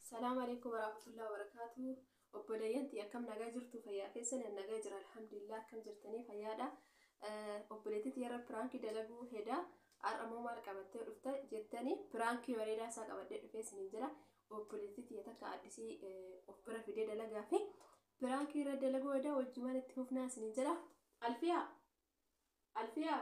Salaam alaikum warahmatullahi wabarakatuh. Obboleeyyan tiyya akkam nagaa jirtu fayyaa keessan an nagaa jira alhamdulillah akkam jirtanii fayyaadha. Obboleettii tiyya irra piraankii dalaguu hedaa har'a immoo maal qabattee dhufta jettanii piraankii bareedaa isaa qabadhee dhufee isiniin jira. Obboleettii tiyya takka addisii of bira fidee dalagaa fi piraankii irra dalaguu hedaa wajjumaan itti fufnaa isiniin jira. Alfiyaa! Alfiyaa!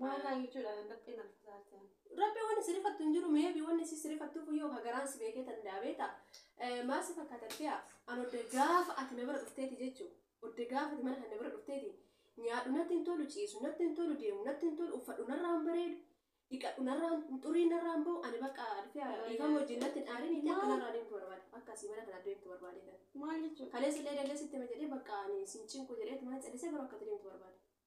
Maal naan jechuudha kan rabbiin na fasaarte ani. Rabbi wanni sirifattu hin jiru meebi wanni si sirifattuuf iyyuu ka garaan si beekee danda'a beeta. Maal si fakkaata dhifee'a? An odde gaafa ati na bira dhufteeti jechu. Odde gaafa ati mana kan na bira dhufteeti. Nyaadhu natti hin tolu, ciisu natti hin tolu, deemu natti hin tolu, uffadhu narraa hin bareedu, dhiqadhu narraa hin xurii narraa hin ba'u. Ani bakka dhifee'a dhiifama wajjin natti hin aariniiti akka narraa deemtu barbaada. Akka asii mana kanaa deemtu barbaadee kan. Maal jechuudha? Kaleessa illee dallee sitti hima jedhee bakka ani sin cinqu jedheetumaan callisee garuu akka ati deemtu barbaada.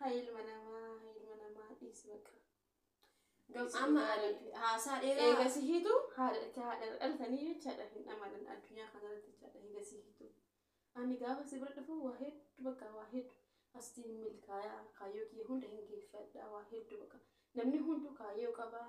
Hay ilma namaa, hay ilma namaa dhiisi baqa. Amma ani haasaa dheeraa Eega si hiitu haadha itti haadha dhalatanii jechaadha hin dhamanan addunyaa kanarratti jechaadha eega si hiitu. Ani gaafa si bira dhufu waa hedduu bakka waa hedduu asitti hin milkaayaa kaayyoo kiyya hunda hin geeffadha waa hedduu bakka namni hunduu kaayyoo qabaa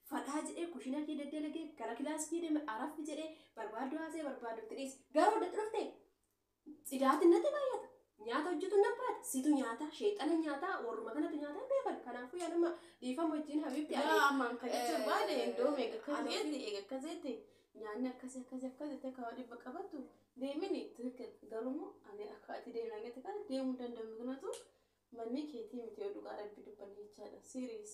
fadhaa jedhee kushina kee daddalage gara kilaas kee deme araffi jedhee barbaaddu haasee barbaaddutti dhiisi garuu dadha dhufte tsidaati natti baay'ata nyaata hojjetu nan baate situ nyaata sheexana nyaata warruma kanatu nyaata hin beekan kanaafuu yaa nama dhiifama wajjin habiibti ani Yaa ammaan kan jechuun barbaade indoom eega akkas Ani jeetti ofii- eega akkas jeetti nyaanni akkasi akkasi akkas jeetti akka waa dhibba qabattu deemini tirikil garuu immoo ani akka ati deemna jette kana deemuu hin danda'u kanatu manni keetii miti yoo dhugaa rabbi dubbanne jechaadha siiriis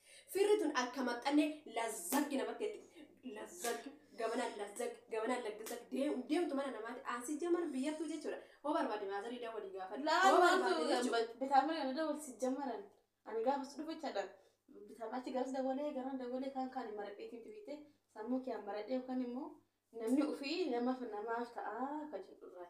Firri tun akka maxxanne lazzaggi namatti jetti. Lazzag, gamana lazzag, gamana laggazag deem- deemtu mana namaati. Asi jamar biyyattuu jechuudha. Hoo barbaade maazarii daa walii gaafadhu. Laa Hoo maaltu barbaade jechuudha. bitaamina kana dawwalsi jammaran ani gaafas dhufe jedha bitaamina achi garas dawwalee garan dawwalee kaan kaan hin maradheetiin duwite sammuu kiyaan maradhee yookaan immoo namni ofii namaaf namaaf ta'a ka jedhu irraa.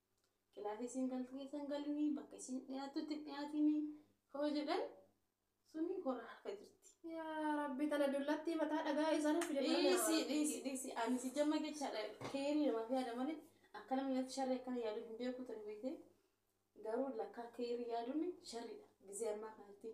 kilaasii isin galtu keessa hin galini bakka isin dhiyaattutti hin dhiyaatini hoo jedhan suni hora harka jirti. Yaa rabbi tana dullattii mataa dhagaa isaan hin fide Dhiisi dhiisi dhiisi ani si jamma jechaadha keerii namaaf yaada malee akka namni natti sharri akkana yaadu hin beeku ture beekee garuu lakkaa keerii yaaduun sharriidha gizee ammaa kanatti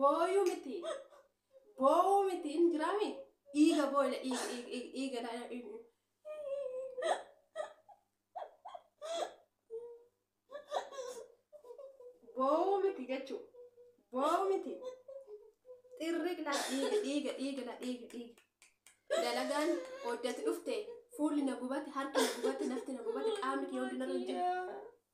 Booyuu miti. Boo'uu miti hin jiraami. Dhiiga booyila dhiiga dhiiga dhiiga dhiiga ilaa- dhiiga. Boo'uu miti jechuu. Boo'uu miti. Xirriq laa dhiiga dhiiga dhiiga laa dhiiga dhiiga. Dalagaan hojjate dhufte fuulli na gubate harki na gubate nafti na gubate qaamni kee hundi narra hin jiru.